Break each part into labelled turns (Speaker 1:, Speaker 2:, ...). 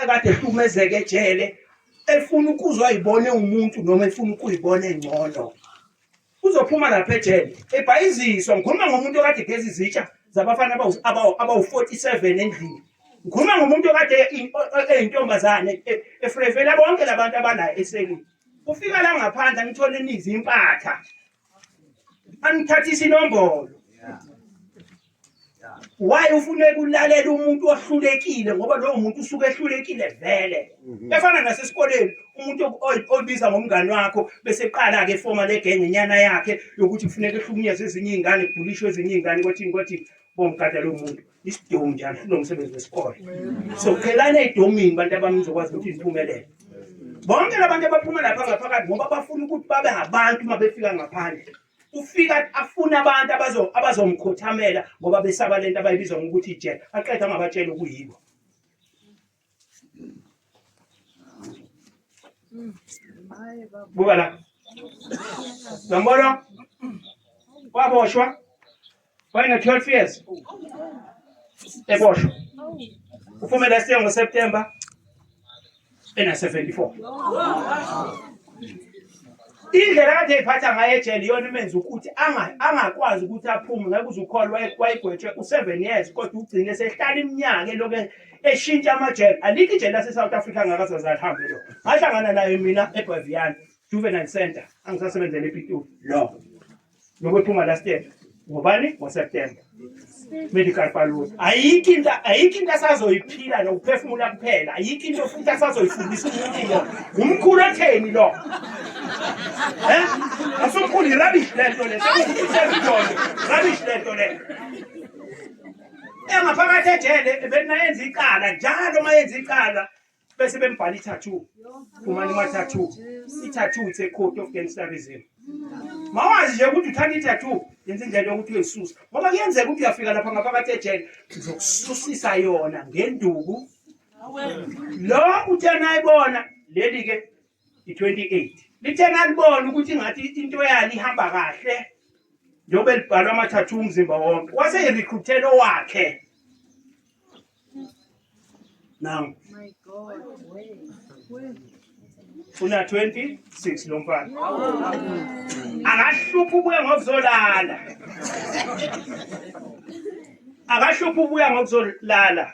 Speaker 1: ekade ehlukumezeke ejele efuna ukuzwa ayibone umuntu noma efuna ukuyibona engcono uzophuma lapha ejele ebhayiziswa ngikhuluma ngomuntu okade geza izitsha zabafana abawu-47 endlini ngikhuluma ngomuntu okade eyintombazane e, efrevela bonke labantu abanayo esekini ufika la ngaphandle angithole nizi impatha angithathisa inombolo why ufuneka ulalela umuntu ohlulekile ngoba lowo muntu usuke ehlulekile vele mhm. efana nasesikoleni umuntu obiza ngomngani wakho bese qala-ke efoma legenge inyana yakhe yokuthi kufuneka ehlukunyezwe ezinye iy'ngane kubhulishwe ezinye iy'ngane kwathini kwathini bomgada lowo muntu isidiwu njalo futhi nomsebenzi wesikole so qhelani eyidomini bantu abami nizokwazi ukuthi niphumelele bonke labantu abaphuma lapha ngaphakathi ngoba bafuna ukuthi babe ngabantu uma befika ngaphandle ufika afuna abantu abazomkhothamela ngoba besaba lento abayibizwa ngokuthi ijele aqeda angabatshela okuyibo Buka la. Zambolo. Waboshwa. Wayena 12 years. Eboshwa. Ufume last year ngoSeptember ena 74. Indlela kade iphatha ngayo ejele iyona imenza ukuthi anga- angakwazi ukuthi aphume ngeke uzukholwa wayegwetshwe u-7 years kodwa ugcine sehlala iminyaka eloke eshintsha amajele alikho ijele lase-south africa angakazaze alihambe lo ngahlangana naye mina egwaviyana juvenile center angisasebenzela epitoli lo nokwephuma last year ngobani ngoseptemba medical balloon ayikho into ayikho into asazoyiphila nokuphefumula kuphela ayikho into futhi asazoyifundisa umuntu lo ngumkhulu otheni lo eh asomkhulu rubbish lento le sekuthi rubbish lento le engaphakathi ejele benayenza icala njalo uma yenza icala bese bembhala i-tattoo umane uma-tattoo i-tattoo it's a code of gangsterism mawazi nje ukuthi uthanda i-tattoo yenza indlela yokuthi uyisusa ngoba kuyenzeka ukuthi uyafika lapha ngaphakathi ejele ngizokususisa yona ngenduku lo uthe nayibona leli-ke 28 lithe nalibona ukuthi ngathi into yalo ihamba kahle njengoba elibhalwa amathathu umzimba wonke wase erecruitela owakhe now my god una 26 lo mfana akahluphi ubuya ngokuzolala akahluphi ubuya ngokuzolala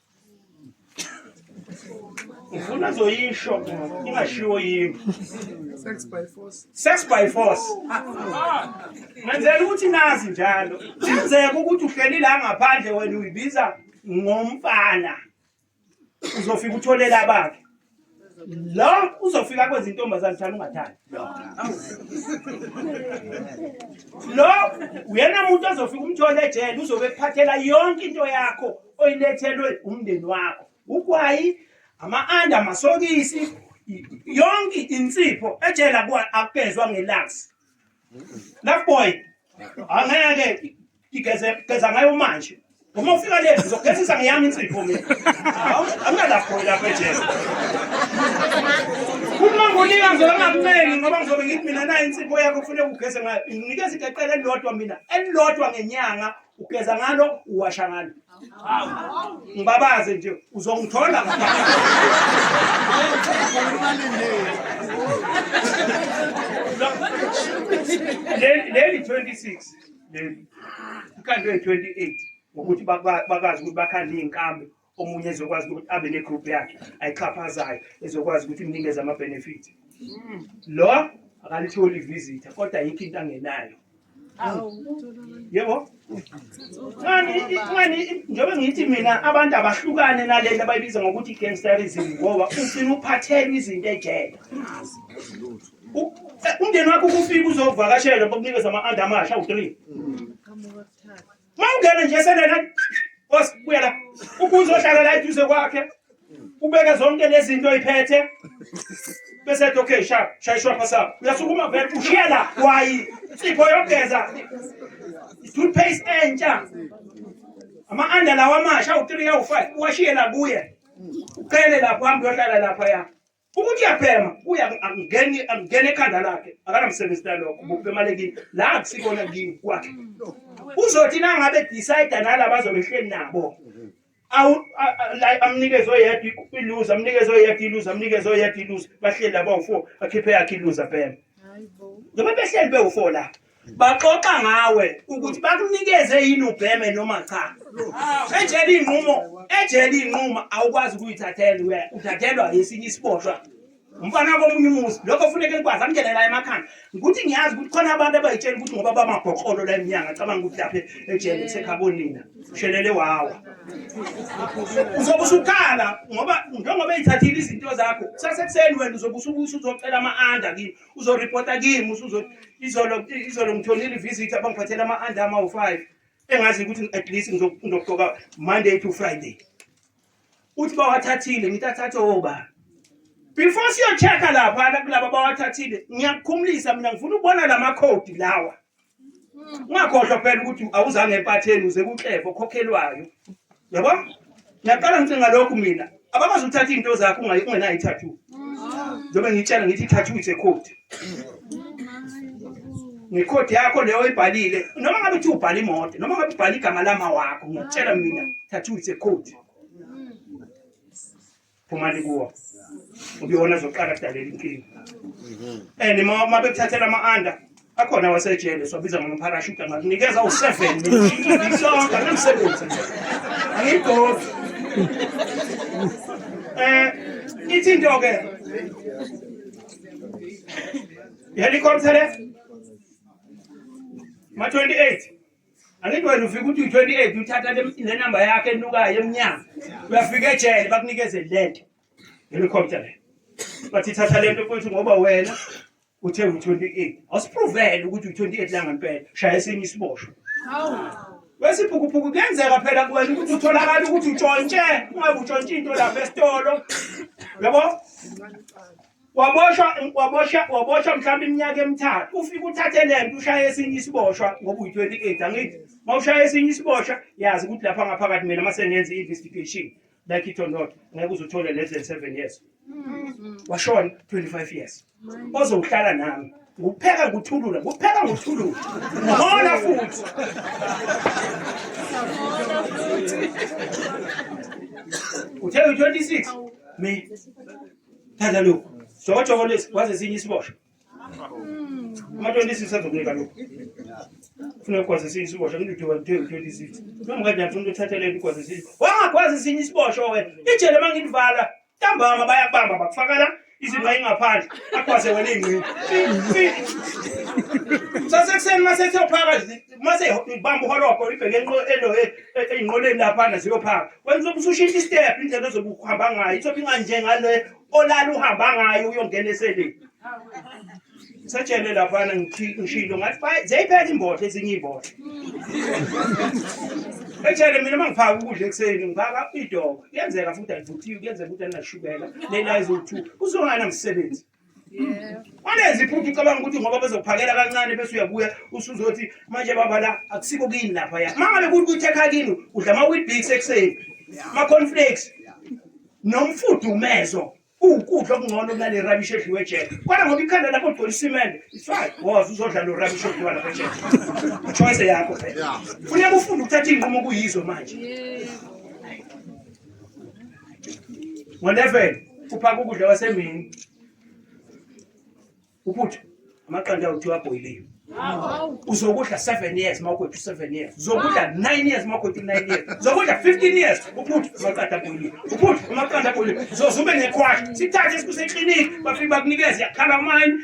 Speaker 1: ngifuna azoyisho ingashiwo yimi sex by force sex by force ngenzela ukuthi nazi njalo kuzeka ukuthi uhleli la ngaphandle wena uyibiza ngomfana uzofika utholele abakhe la uzofika kwenza intombazane thana ungathandi lo uyena muntu ozofika umthole ejele uzobe ekuphathela yonke into yakho oyilethelwe umndeni wakho ugwayi ama-anda amasokisi yonke insipho ejele akukezwa ngelangsi Left boy. Angeke igeze geza ngayo manje. Uma ufika le ngizogezisa ngiyami insipho mina. Angina left boy lapha ejele. Uma ngonika ngizolo ngakumeli ngoba ngizobe ngithi mina nayo insipho yakho kufanele ugeze ngayo. Nginikeza igeqele elilodwa mina elilodwa ngenyanga ugeza ngalo uwasha ngalo ngibabaze nje uzongithola leli 26 leli ikhandwe 28 ngokuthi bakwazi ukuthi bakhande iy'nkambi omunye ezokwazi ukuthi abe ne-group yakhe ayixhaphazayo ezokwazi ukuthi imnikeze ama-benefit mm. lo akalitholi ivisitha kodwa yikho into angenayo yebo ngani njengoba ngithi mina abantu abahlukane nalento abayibiza ngokuthi i-gangsterism ngoba ufuna uphathelwa izinto ejele umndeni wakho ukufika uzovakashela bakunikeza ama-under amasha u-three mm. Mawungena nje selena boss buya la. Ukuze ohlala la eduze kwakhe. Ubeke zonke lezi zinto iphethe. Bese ethi okay sha shayishwa phasa. Uyasukuma vele ushiya la wayi. Sipho yogeza. Toothpaste entsha. Ama under lawa amasha u3 u5 uwashiye la kuye. Uqele lapho hamba uyohlala lapha ya. ukuthi uyabhema kuya angeni angene ekhanda lakhe akanamsebenzi nalokho ngokubhemale kimi la akusikona kimi kwakhe uzothi nangabe decide nalaba azobehleli nabo awu amnikeze oyedwa iluze amnikeze oyedwa iluze amnikeze oyedwa iluze bahleli laba u-four akhiphe yakhe iluze abhema noma behleli bewu-four lapho baxoxa ngawe ukuthi bakunikeze yini ubheme noma cha ejele iy'nqumo ejele iy'nquma awukwazi ukuyithathela uthathelwa yesinye isiboshwa umfana komunye umuzi lokho funeke nikwazi angene la emakhanda ukuthi ngiyazi ukuthi khona abantu abayitshela ukuthi ngoba bamabhoqolo la emnyanga cabanga ukuthi lapha ejele kusekhabonina ushelele wawa uzobe usukhala ngoba njengoba eyithathile izinto zakho kusasekuseni wena uzobe usubusa uzocela ama-anda kimi uzoripota kimi usuzothi izolo izolo ngithonile ivisit abangiphathela ama-under amawu-five engazi ukuthi at least ngizogqoka monday to friday uthi bawathathile ngithi athathe obani before siyochecka laphana kulaba bawathathile ngiyakukhumulisa mina ngifuna ukubona la makhodi lawa ungakhohlwa phela ukuthi awuzange empatheni uze kuxefa okhokhelwayo yabo ngiyaqala ngicinga lokhu mina abakwazi ukuthatha izinto zakho ungenayo ithathu njengoba ngitshela ngithi ithathu is a code ngekhodi yakho leyo oyibhalile noma ngabe uthi ubhala imoto noma ngabe ubhala igama lama wakho ngiyakutshela mina thathu is a code phumani kuwo ubuyona zoqala kudalela inkinga and uma bekuthathela ama-under akhona wasejele siwabiza ngomparashuta ngakunikeza u-seven sonke anamsebenzi angiyigofi um ithi into-ke helicopter le ma-28 angithi wena ufika uthi u-28 uthatha nenamba yakhe enukayo emnyama uyafika ejele bakunikeze le nto ngelikhompyutha le bathi thatha le nto futhi ngoba wena uthe u-28 awusipruvele ukuthi u-28 la ngempela shaya esinye isiboshwa wesiphukuphuku kuyenzeka phela kuwena ukuthi utholakala ukuthi utshontshe ungabe utshontshe into lapha esitolo yabo waboshwa waboshwa waboshwa mhlawumbe iminyaka emithathu ufike uthathe le nto ushaye esinye isiboshwa ngoba uyi-28 angithi uma ushaya esinye isiboshwa yazi ukuthi lapha ngaphakathi mina uma sengenza i-investigation like it or not ngeke uze uthole less than seven years mm-hmm. washona 25 years ozowuhlala nami ngupheka nguthulula ngupheka nguthulula ngona futhi uthe uyi-26 me thatha lokhu sokotshoko lesi waze sinye isibosho ama-26 azokunika lokhu funa ukwazi esinye isibosho ngidudukwa ngu-26 nomkadani funa uthathelele ukwazi esinye wangakwazi esinye isibosho wena ijele uma ngilivala ntambama bayakubamba bakufakala izinqa ingaphandle akwaze wena ingqini sasekuseni uma sethi yophaka mase ngibamba uhologo ibheke ey'nqoleni laphana ziyophaka kwenza ukuthi ushintshe istep indlela ozobe ukuhamba ngayo ithobe inganjengale olala uhamba ngayo uyongena eseleni satshele laphana ngishilo ngathi ziyayiphela imbodla ezinye iy'mbodla etshele mina uma ngiphaka ukudla ekuseni ngiphaka idoko kuyenzeka futhi alivuthiwe kuyenzeka ukuthi alinashukela lena eziwu-two kuzongana msebenzi Walezi iphupho ucabanga ukuthi ngoba bezokuphakela kancane bese uyabuya usuzothi manje baba la akusiko kini lapha ya. Mangabe kuthi kuthi ekhaya kini udla ama Weetabix ekuseni. Ma cornflakes. Nomfudumezo. Ukudla okungcono kunale rubbish edliwe ejele. Kodwa ngoba ikhanda lakho ligcwele isimende, it's fine. Woza uzodla lo rubbish odliwa lapha ejele. Choice yakho phela. Funeka ufunde ukuthatha iinqumo kuyizo manje. ngo-11 uphaka ukudla kwasemini uphutha amaqanda awuthiwa abhoyiliwe uzokudla seven years uma ukwethu seven years uzokudla nine years uma ukwethu nine years uzokudla fifteen years uphutha amaqanda abhoyiliwe uphutha amaqanda abhoyiliwe zoze ube nekhwasha sithathe sikusekliniki bafike bakunikeze yakhala amayini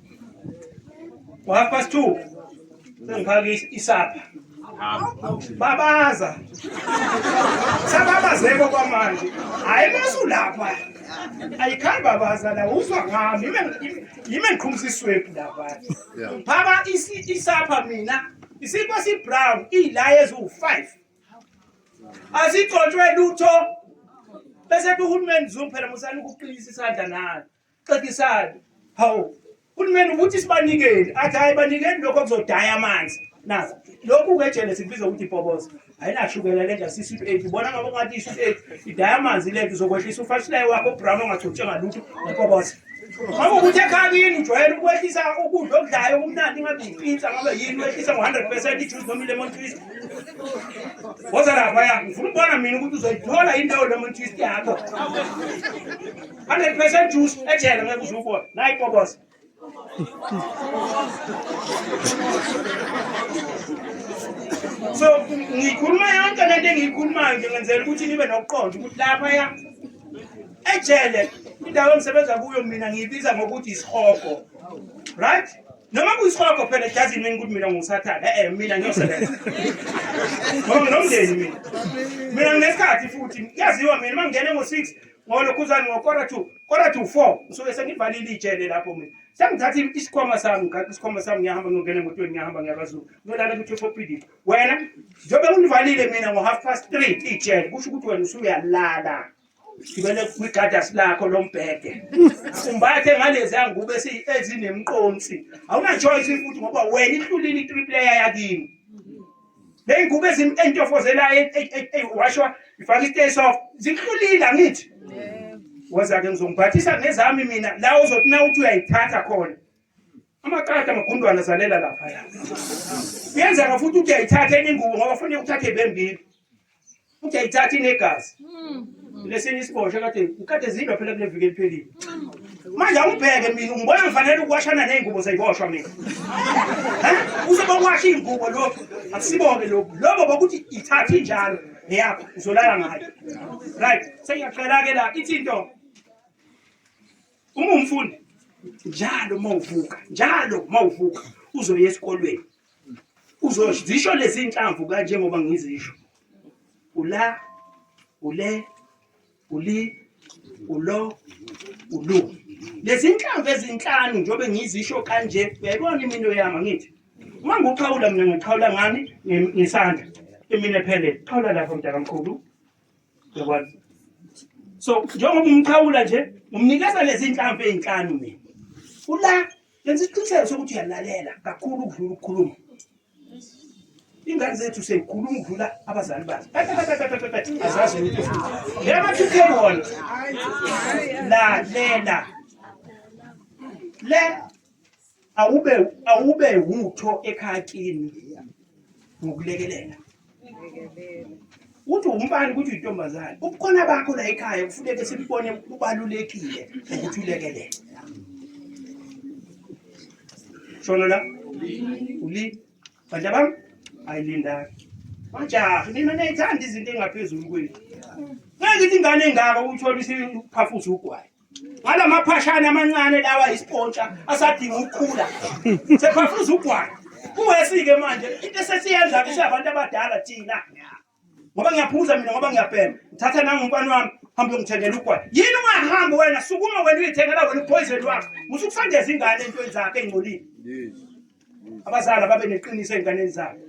Speaker 1: Half past two. Sengiphaka isapha. Babaza. Sababazeko kwamanje. Hayi masulapha. Ayikhali babaza la uzwa ngami. Yime ngiqhumisa iswebhu lapha. Phaka isapha mina. Isikwa si brown ilaye zu 5. Azigcotshwe lutho. Bese kuhulumeni zumphela musani ukuqinisa isandla nalo. xekisani hawu uhulumeni ukuthi sibanikele athi hhayi banikeni lokho kuzodaya amanzi nazi lokhu kejele sikubiza ukuthi ibhoboza ayinashukela le nja sisweet eight ubona ngoba ungathi isweet eight idaya amanzi le nto uzokwehlisa ufashilayo wakho ubrama ongagcotshwe ngalutho ngeboboza ngoba ukuthi ekhaya kini ujwayele ukwehlisa ukudla okudlayo okumnandi ingabe yipinsa ngabe yini wehlisa ngo-hundred percent ijuice noma i-lemon twist woza lapha ya ngifuna ukubona mina ukuthi uzoyithola indawo lemon twist yakho 100% juice ejele ngeke uze ubone nayi koboza so ngikhuluma yonke lento engiyikhulumayo nje ngenzela ukuthi nibe nokuqonda ukuthi lapha ya ejele indawo engisebenza kuyo mina ngiyibiza ngokuthi isihogo right noma kuyisihogo phela doesn't mean ukuthi mina ngusathane e-e mina ngiyosebenza ngoba nginomndeni mina mina nginesikhathi futhi kuyaziwa mina uma ngingene ngo-six Ngolo khuzani ngokora 2, kora to 4 ngisuke sengivalile ijele lapho mina. Sengithatha isikhwama sami, ngigaqe isikhwama sami ngiyahamba ngiyongena emotweni ngiyahamba ngiyabazulu. Ngiyolala kuthi phopidi. Wena njengoba ungivalile mina ngo half past 3 ijele kusho ukuthi wena usuyalala. Ngibele kwigadasi lakho lombhede. Umbathe ngalezi angubo ezinemqonsi. Awuna choice futhi ngoba wena ihlulile i3 player yakini. neyingubo entofozelayo e- e- e- eyiwashwa ifake isiteyi soft zihlulile angithi woza-ke ngizongiphathisa ngezami mina la uzothi na uthi uyayithatha khona amaqada amagundwana zalela laphaya kuyenzeka futhi uthi uyayithatha enye ingubo ngoba fanele uthathe bembili futhi ayithathi inegazi hmm. lesinye isibosha kade kade zidwa phela kule viki eliphelile manje awubheke mina ngibona ngifanele ukuwashana ney'ngubo zayiboshwa mina usebawasha iy'ngubo lokhu akusibone lokhu lobo bokuthi ithathe injalo neyakho uzolala ngayo right sengiyaqela-ke la ithi into uma umfundi njalo uma uvuka njalo uma uvuka uzoya esikolweni uzozisho lezi nhlamvu kanje ngoba ngizisho ula ule uli ulo ulu lezi nhlamvu ezinhlanu njengoba ngizisho kanje uyayibona imino yami ngithi uma ngiwuxhawula mina ngiqhawula ngani ngisandla imina ephelele xhawula lapho mntakamkhulu Uyakwazi? So njengoba umqhawula nje umnikeza lezi inhlamvu ezinhlanu mina. Ula yenza isiqiniseko sokuthi uyalalela kakhulu ukudlula ukukhuluma. Ingane zethu seyikhuluma ukudlula abazali bazo. Azazi ukuthi yema thukhe wona. Lalela. Le awube awube wutho ekhaya kini ngokulekelela uthi umbani ukuthi uyintombazane ubukhona bakho la ekhaya kufuneke simbone kubalulekile ukuthi ulekelele shona la uli bantu bami ayilinda majaha nina nayithanda izinto engaphezulu kwethu ngeke ithi ingane engaka uthola isiphafuza ugwayi Wala maphashana amancane lawa isipontsha asadinga ukukhula. Sekhafuza ugwana. Kuwesike manje into esesiyenza ke siyabantu abadala thina. Ngoba ngiyaphuza mina ngoba ngiyabhema. Ngithatha nangumfana wami hambe ngithengela ugwana. Yini ungahamba wena sukuma wena uyithengela wena upoison wakho. Musukusandeza ingane entweni zakhe engcolile. Yes. abazali ababe neqiniso ezinganeni zabo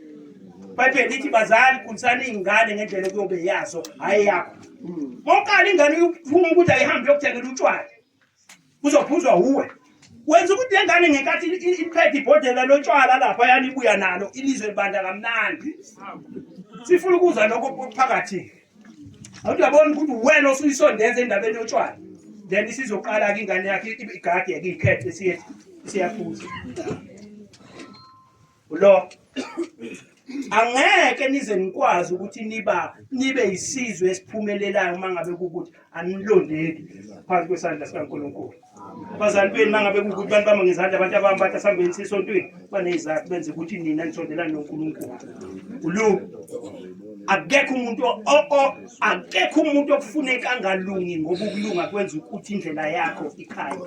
Speaker 1: bayibhele lithi bazali khulisani iy'ngane ngendlela ekuyobe yazo hhayi yakho konkala ingane uyuvuma ukuthi ayihambe yokuthengela utshwala kuzophuzwa wuwe wenza ukuthi le ngane ngenkathi iphethe ibhodlela lotshwala lapha yanibuya nalo ilizwe libanda kamnandi sifuna ukuzwa lokho phakathi awuyabona ukuthi wena osuyisondeza endabeni yotshwala then isizoqala-ke ingane yakhe igadi yake ikhethe siyaphuza lo angeke nize nikwazi ukuthi niba nibe yisizwe esiphumelelayo uma ngabe kukuthi anilondeki phansi kwesandla sikaNkulunkulu abazali benu mangabe kukuthi bantu bama ngezandla abantu abami bathi asihambeni sisontweni banezizathu benze ukuthi nina nisondelane noNkulunkulu ulu akekho umuntu akekho umuntu okufuneka angalungi ngoba ukulunga kwenza ukuthi indlela yakho ikhaya